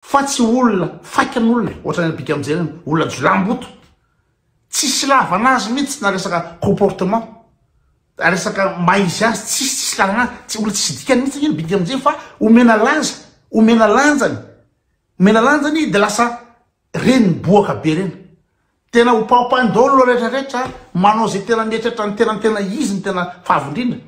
Fa tsy olona faikan'olona e, ohatran'ny alibika mijery iny, olona jiolahimboto, tsisy ilavana azy mihitsy na resaka comportement, resaka maha izy azy, tsisy tsisy ilavana azy, tsy olona tsisy dikany mihitsy anie ny bika mijery fa omena laza, omena lanjany, omena lanjany de lasa reny boaka be reny, tena hopahopainy daholo ireo rehetra rehetra, manao ze tena mieritreritra ny tenany tena izy no tena favy indrindra.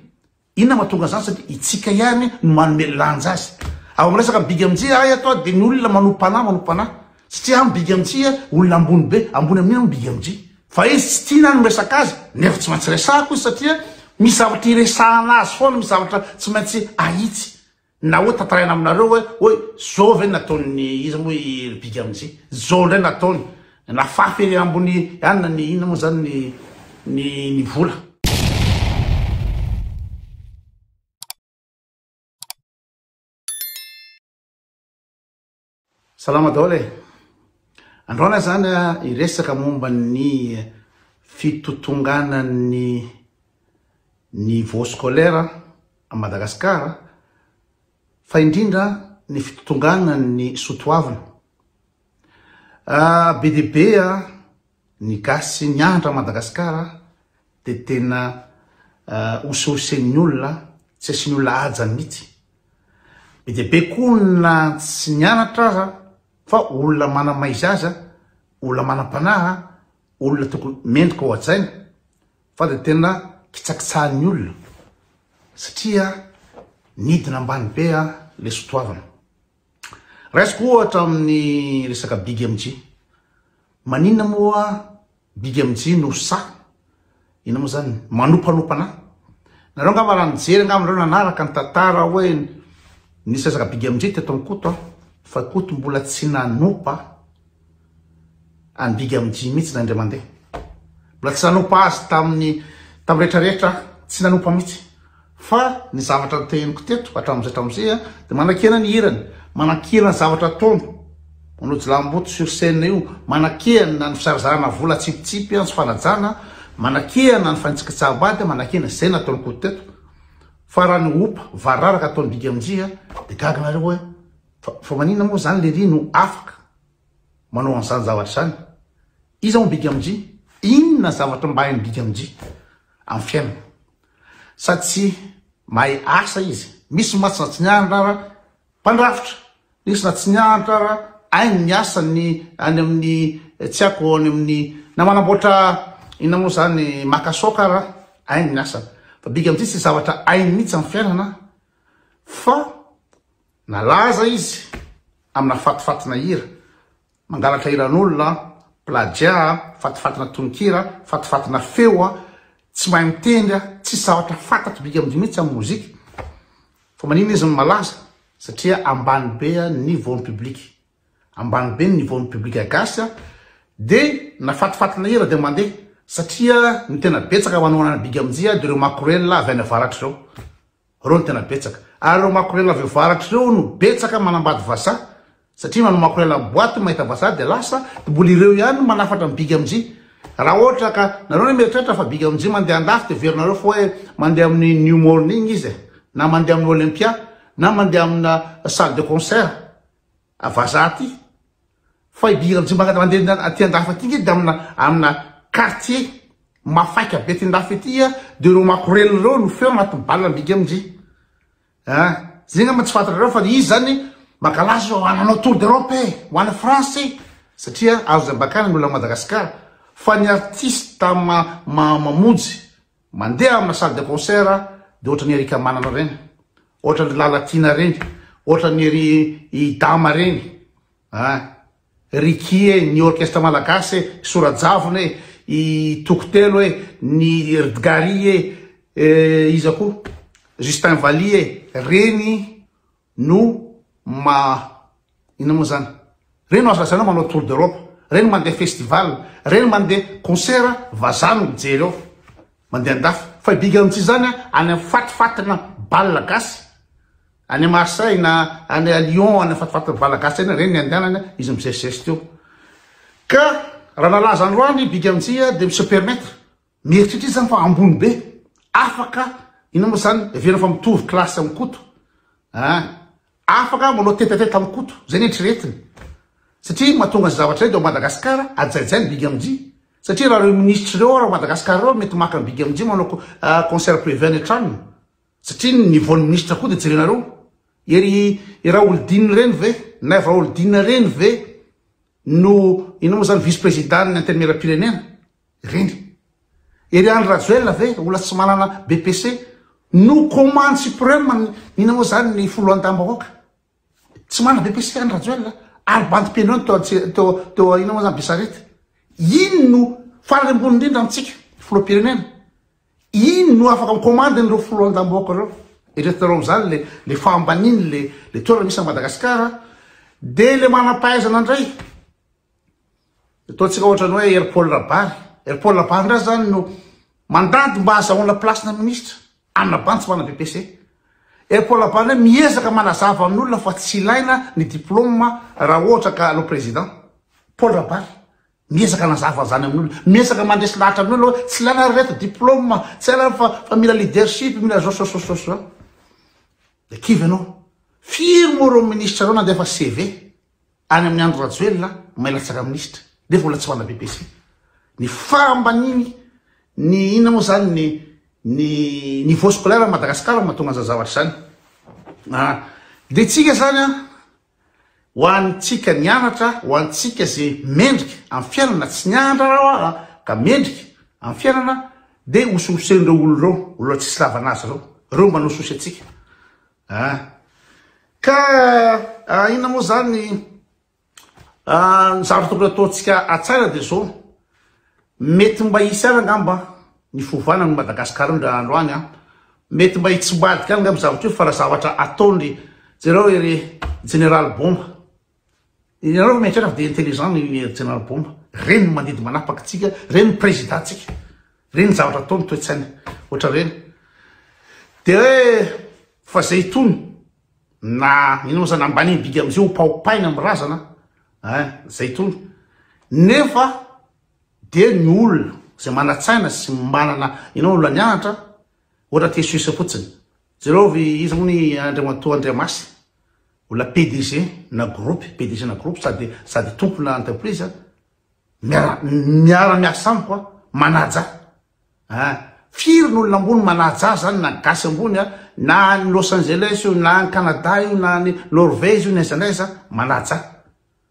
Inona no mahatonga an'izany satria itsika ihany no manome lanja azy. Ao amin'ny resaka big mj ahy ato a dia ny olona manom-panahy manom-panahy satria ahy ny big mj a olona ambony be ambony amin'iny ny big mj fa izy tsy tiana ahy ny miresaka azy nefa tsy maintsy resahako izy satria misy zavatra iresahana azy foana misy zavatra tsy maintsy ahitsy Na hoe tantaraina aminareo hoe hoe zao ve nataon'ny iza moa i ry big amzia zao ndray nataony nafafy ery ambony ihany na ny inona moa zany ny ny ny vola. Salama daholo e! Androany aho zany hiresaka momba ny fitotonganan'ny niveau scolaire a Madagascar fa indrindra ny fitotonganan'ny soatoavina. Be dia be a! Ny gasy mianatra Madagascar de tena hosehosen'ny olona tsy asian'ny olona haja mitsy. Be dia be ko na tsy nianatra aza fa olona mana maizaza, olona manam-panahy, olona tokony mendrika ho hajaina fa de tena kitsakitsahan'ny olona satria nidina ambany be le sotoavina. Raisiko ohatra amin'ny resaka BigMG. Maninona moa BigMG no sahy, inona moa zany, manopanopana? Nareo angamba raha nijery angamba nareo nanaraka ny tantara hoe nisy resaka BigMG teto amin'i Koto fa Koto mbola tsy nanopa Any big am Jim mitsy na indray mandeha. Mbola tsy nanompa azy tamin'ny tamin'ny rehetra rehetra aho. Tsy nanompa mitsy. Fa ny zavatra noteheniko teto hatramin'izay hatramin'izay an, dia manakena ny hirany, manakena ny zavatra ataony, manao jilamboto sur scène io, manakena ny fisarazarana vola tsipitsipy an, sy fanajana, manakena ny fanitsakitsaham-bady an, manakena izay nataon'i Koto teto. Fa raha ny opa vararaka ataon'i big am Jim dia gaga nareo hoe fa fa maninona moa izany lery no afaka. manao an'izany zavatra izany? Iza hono bikamji? Inona zavatra mba hain'i bikamji amin'ny fiainana? Sa tsy mahay asa izy? Misy mantsy na tsy nianatra ara mpandrafitra, nisy na tsy nianatra ara haino ny asa ny any amin'ny tsy ako any amin'ny na manamboatra inona moa izany makasaoka ara haino ny asany fa bikamji tsy zavatra hainy mihitsy amin'ny fiainana fa Nalaza izy amina fatifatina hira, mangalatra hiran'olona, plagiat, fatifatina tononkira, fatifatina feo, tsy mahay mitendry, tsy zavatra fantatr'i Big Amdy mihitsy amin'ny mozika. Fa maninona izy no malaza? Satria ambany be ny voan'ny public. Ambany be ny voan'ny public gasy dia na fatifatina hira dia mandeha satria ny tena betsaka manao an'i Big Amdy dia ireo makorelina avy any avaratra ireo. Reo no tena betsaka. Ary reo makorela avy avaratra reo no betsaka manambady vazaha. Satria manao makorela am boite mahita vazaha dia lasa, dia mbola ireo ihany no manafatra ny big amnjy. Raha ohatra ka nareo anie mieritreritra fa big amnjy mandeha andafy dia heverinareo fa hoe mandeha amin'ny new morning izy e. Na mandeha amin'ny olympia. Na mandeha amina salle de concert. A vazaha ty. Fa i Bi Rajombagna raha mandeha aty andafy aty ngedy amina amina quartier mafaika be aty andafy aty a de reo makorelina ireo no feo agnaty bal ambika amindry a. Zay ngamba tsy fantatrareo fa izy zany mangalaza zao hanao tour d'Europe e, ho any France e, satria azo ambakana ny olona Madagascar, fa ny artiste ma mamonjy. Mandeha amina salle de concert dia ohatran'i Eric Manana ireny, ohatran'i Lalatina ireny, ohatran'i ry Idama ireny a, Ricky e, ny orchestre malagasy e, Sorajavona e, i Tokotelo e, ny Rdgary e, iza koa, Justin Valiha e, ireny no ma inona moa zany reny aza zany manao tour d'Europe reny mandeha festival reny mandeha concert vazaha no mijery ao mandeha andafy fa i big amtsy zany any amin'ny fatifatina bal gasy any Marseille na any à Lyon any amin'ny fatifatina bal gasy any reny ny andehanany izy mizesizesy teo ka raha nalaza androany big amtsy dia mi se permettre Mieritreritra izy zany fa ambony be. Afaka inona moa zany heverina fa mitovy classe amin'i Koto an! Afaka manao tête à tête amin'i Koto, zay ny eritreretiny. Satria mahatonga an'izay zavatra izay dia ao Madagascar ajaijay ny Big MJ. Satria raha ireo ministres ireo ary ao Madagascar ireo mety maka an'i Big MJ manao concert privé any an-tranony. Satria ny niveau-n'ny ministres koa dia jerenareo. Ery i Raholdina ireny ve, Naivo Raholdina ireny ve no inona moa zany vice-président-n'ny antenimieram-pirenena? Ireny. Ery Andry Rajoelina ve ola tsy manana BPC no commande supreme ny nanao zany ny foloantambahoaka. Tsy manana BPC Andry Rajoelina ary bandy pianoany teo teo teo ina moa zany Besarety. Iny no farany ambony indrindra amintsika filoham-pirenena. Iny no afaka mi-commande an'ireo foloantambahoaka ireo. Eretrinareo amin'izany le le fahambaniny le le toerana misy an'i Madagasikara dia le manam-pahaizana indray Ataontsika ohatra ny hoe Hery Paul Rabary. Hery Paul Rabary indray zany no mandady mba azahoana place-na ministra amina bandy tsy manana BPC. Hery Paul Rabary indray miezaka manazava amin'olona fa tsy ilaina ny diplôme raha ohatra ka hanao président. Paul Rabary miezaka hanazava an'izany amin'olona, miezaka mandresy lahatra amin'olona hoe tsy ilaina ry reto diplôme, tsy ilaina fa fa mila leadership, mila zao zao zao zao zao. Dia kivy ianao. Firy moa ireo ministra ireo nandefa CV? Any amin'ny Andry Rajoelina may latsaka minisitra nefa mbola tsy mana BPC. Ny fahambaniny ny inona moa zany ny ny niveau scolaire am Madagascar mahatonga an'zany zavatra zany. Ah de tsika zany an ho antsika nianatra ho antsika ze mendrika am fiainana tsy nianatra rah oa ka mendrika am fiainana de ososen'reo olona reo olona tsisy lavana azy reo reo manao sosy antsika. Ah! Ka ah, inona moa zany ny ah, ny zavatra tokony ataontsika atsara dia zao, mety mba hisy any angamba ny fiovana ny Madagascar ndra andro any an, mety mba hitsimbadika any angamba zavatra io fa raha zavatra ataon'ry jereo ery Jeneraly Bomba Ianareo no mieritreritra fa dia intelligent ny Ry Jeneraly Bomba. Ireny no mandidy manapaka antsika, ireny ny Président ntsika. Ireny ny zavatra ataony, toe-tsainy ohatra ireny. Dia hoe fa izay itony na inona moa zany ambaniny didy amin'izay hopaopaina amin'ny razana ein, izay itony. Nefa dia ny olona izay manan-tsaina sy manana inona olona nianatra ohatra Tesuis fotsiny. Jereo ry iza moa ny Andriamatoa Andriamasy Olona PDG na groupe, PDG na groupe sady sady tompona entreprise a, miara miara miasa amiko a, manaja a, firy ny olona ambony manaja zany na gasy ambony a, na any Los Angeles io, na any Canada io, na any Norvège io, na aiza na aiza, manaja.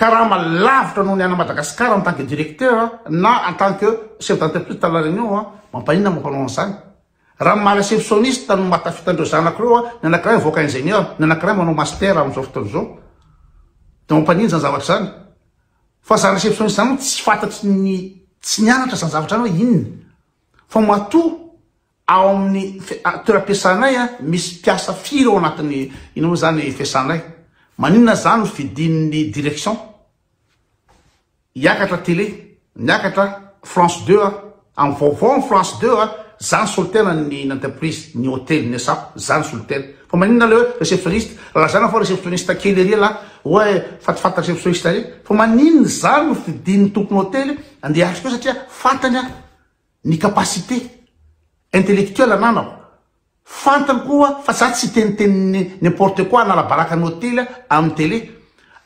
Karama lavitra noho ny any Madagascar en tant que directeur na en tant que chef d'entreprise dans la Réunion an! Mampaninona moa mpanao an'izany? Raha ny maha receptionniste no maha tafita an'ireo zanako ireo an! Ny anankiray mivoaka ingénieur, ny anankiray manao master amin'izao fotoana izao. Dia mampaninona izany zavatra izany? Fa izany receptionniste izany moa tsy fantatry ny tsy nianatra izany zavatra izany hoe inona? Fa matoa Ao amin'ny toeram-piasanay, misy mpiasa firy ao anatin'ny inona moa izany fiasanay? Maninona izany no fidin'ny direction hiakatra tele, niakatra France deux a? Amin'ny vaovao amin'ny France deux a, izaho no solontenany ny ny entreprise, ny hotely, ny asap, izaho no solontena. Fa maninona ilay hoe receptioniste? Lazana fa receptioniste kely ery ialahy, oay fatafata receptioniste ery. Fa maninona izany no fidin'ny tompon'ny hotely handeha hiatrika eo satria fantany aho ny capacité intellectuelle ananako, fantany koa fa za tsy hiteniteny n'importe quoi hanalabaraka ny hotely amin'ny télé,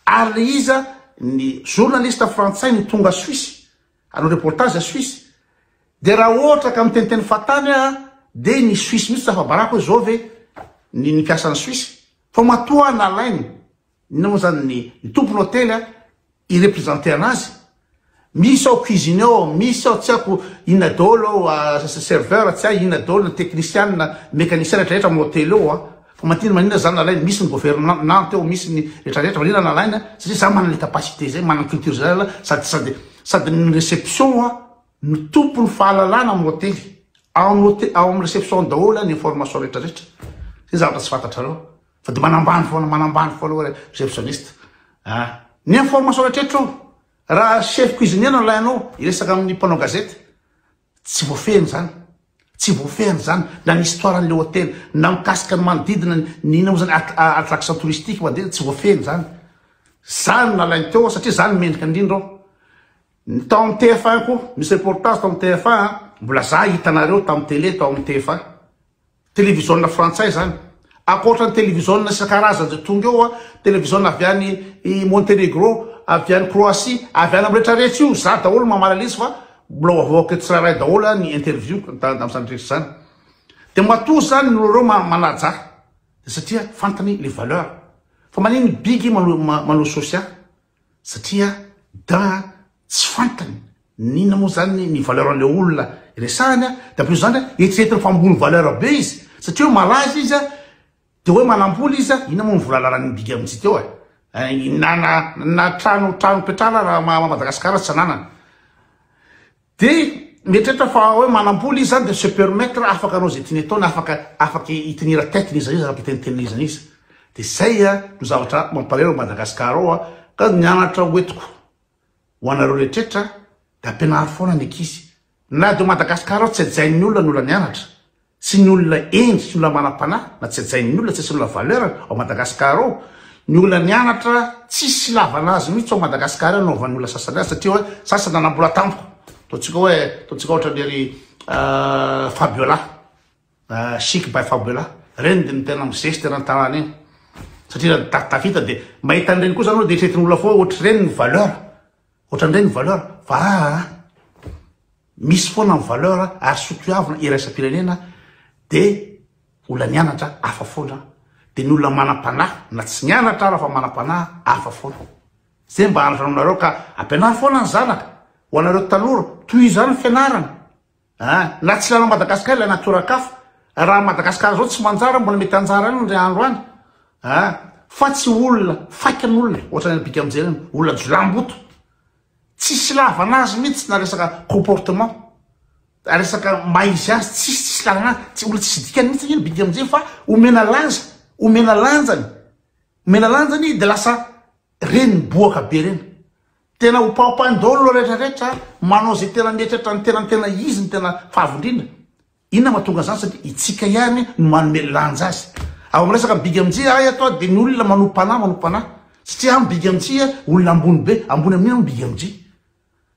ary le iza ny journaliste frantsay no tonga suisse hanao reportage suisse, dia raha ohatra ka miteniteny fatany aho dia ny suisse mihitsy tsy afabarako hoe zao ve ny ny mpiasa any suisse, fa matoa nalainy Inona moa zany ny ny tompon hotely a i representer anazy? Misy ao cuisinier ao, misy ao tsy haiko inona daholo ao a serveur tsy hay inona daholo ny technician, mecanicien rehetra rehetra am hotely ao a. Fa maninona maninona zany nalainy? Misy ny government nante ao, misy ny rehetra rehetra maninona nalainy a? Satria za manana le capacité zay, manana culture zay zala sady sady sady ny reception a no tompony fahalalana am hotely. Ao am hotely ao am reception ao daholo a ny information rehetra rehetra. Zay zavatra tsy fantatrareo. Fa dia manambany foana, manambany foana hoe receptionniste. Ah, ny information rehetra eto ao. Raha chef cuisinier no alainao, hiresaka amin'ny mpanao gazety. Tsy voafehiny izany. Tsy voafehiny izany na ny histoire an'ilay hotely, na mikasika ny manodidina ny inona moa izany att- a- attraction touristique manodidina, tsy voafehiny izany. Izany no nalainy teo ao satria izany no mendrika indrindra ao. Ny tao amin'ny TF1 koa, misy reportage tao amin'ny TF1 an, mbola za hitanareo tamin'ny télé tao amin'ny TF1. Televiziona frantsay izany. Ankoatra ny televiziona isan-karazany izay tonga eo, televiziona avy any i Montenegro, avy any Croatie, avy any amin'ny rehetra rehetra io, izaho daholo no mamalala izy fa mbola ho avoaka eto tsirairay daholo ny interview tamin'izany rehetra izany. Dia matoa izany ny olona ireo manajà dia satria fantany ny valeur. Fa manino ny bigy manao social? satria da tsy fantany n'inona moa zany ny valeur an'ilay olona iresahany a, de plus zany a eritreretiny fa ambony valeur be izy satria hoe malaza izy a, de hoe manam-bola izy a, inona moa ny vola ananan'ny bigy amintsika eo e? na na na trano trano ipetrahana raha ma Madagasikara tsy ananany. Dia mieritreritra fa hoe manam-bola izy izany dia se permettre afaka hanao izay tiany atao na afaka afaka hi tenir tête n'iza n'iza afaka hitenitenina iza n'iza. Dia izay no zavatra mampalahelo ao Madagascar ao a! Ka ny anatra ho entiko ho anareo rehetrretra dia ampianaro foana ny ankizy. Na dia ao Madagascar ao tsy hajain'ny olona ny olona nianatra Tsy ny olona hendry, tsy ny olona manam-panahy, na tsy hajain'ny olona, tsy asian'ny olona valeur ao Madagascar ao, ny olona nianatra tsisy ilavana azy mihitsy ao Madagascar ao no hanaovan'ny olona sasany azy satria hoe sasany nanambola tampoka, ataontsika hoe, ataontsika ohatra ny ry Fabiola, chic by Fabiola, ireny dia ny tena mizesty eran'ny tanàna eny, satria raha tafita dia mahita an'ireny koa izany aloha dia eritreretin'ny olona foana hoe ohatr'ireny ny valeur. Ohatran'indray ny valeur fa aa misy foana ny valeur ary sotoavina iraisam-pirenena dia olona nianatra hafa foana dia ny olona manam-panahy na tsy nianatra ara fa manam-panahy hafa foana. Izay mba andrasanao anareo ka ampianaro foana ny zanaka ho anareo tanora tohizano ny fianarana. Aa! Na tsy hiala Madagascar ilay natiora kafa, raha Madagascar zao tsy manjara mbola mety hanjara any ndry andro any aa! Fa tsy olona faika ny olona e! Ohatrany any bika mijery any, olona jiolahimboto! Tsisy ilavana azy mihitsy na resaka comportement, resaka maha izy azy, tsisy tsisy ilavana azy, tsy olona tsisy dikany mihitsy anie ny bika mijery fa omena laza, omena lanjany, omena lanjany de lasa Reny miboaka be reny. Tena ho paopainy daholo lo rehetra rehetra a, manao zay tena mihetratra ny tenany tena izy ny tena favy indrindra. Inona mahatonga zany satria itsika ihany no manome lanja azy. Ao am resaka big mj ahy ato a de ny olona manompo panahy manompo panahy. Satria am big mj a olona ambony be, ambony amin'inona mo big mj.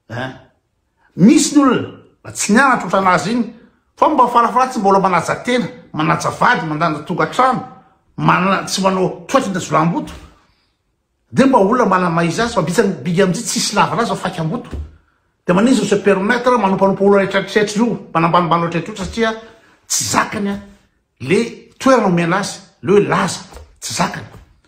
Hein. Misy ny olona mba tsy nianatra otran'azy iny fa mba farafara tsy mbola manaja tena, manaja vady, mandanja tokantrano, manana tsy manao toetra ndazolamboto. Dia mba olona manana maha-izy azy fa bitsany big amin'izay tsisy lavana azy fa faikam-boto. Dia maninona no se permettre manompanompa olona retraretra io, mpanambanimbany loatraretra io satria tsy zakany an. le toerana omena azy le hoe laza tsy zakany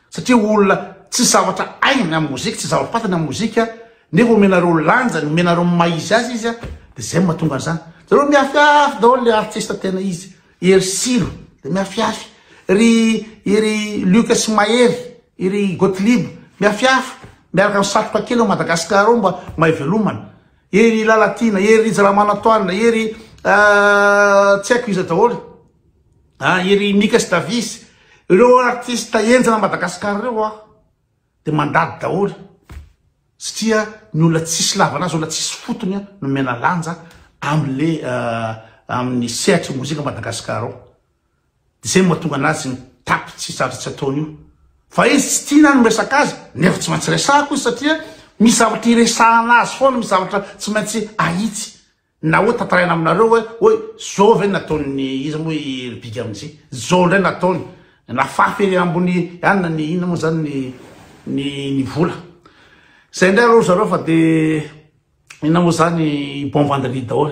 satria olona tsy zavatra ainy amin'ny mozika tsy zavatra patany amin'ny mozika nefa omenareo lanjany omenareo maizy azy izy a de zay mahatonga an'izany zareo miafiafy daholo le artiste tena izy ery silo de miafiafy ry ery lioka sy mahery ery gotlib miafiafy miaraka ny satroka kely ao madagasikara ao mba mahay velomana Ery i Lalatiana, ery Rija Ramanantoanina, ery tsy haiko iza daholo, ery i Mika sy Davis, ireo artista henjana Madagascar ireo aho dia mandady daholo satria ny olona tsisy lavana azy, olona tsisy fotony no omena lanja amin'ilay amin'ny sehatry ny mozika Madagascar ao. Izay no mahatonga anazy mitapy tsy zavatra tsy ataony io. Fa izy tsy tiana ny miresaka azy nefa tsy maintsy resahako izy satria misy zavatra hiresahana azy foana, misy zavatra tsy maintsy ahitsy. Na hoe tantaraina aminareo hoe hoe zao ve nataon'ny iza moa i ry big amzia, zao ndray nataony, nafafy ery ambony any na ny inona moa zany ny ny ny vola. Zay ndray aloha ry zareo fa de inona moa zany bon vendredi daholo.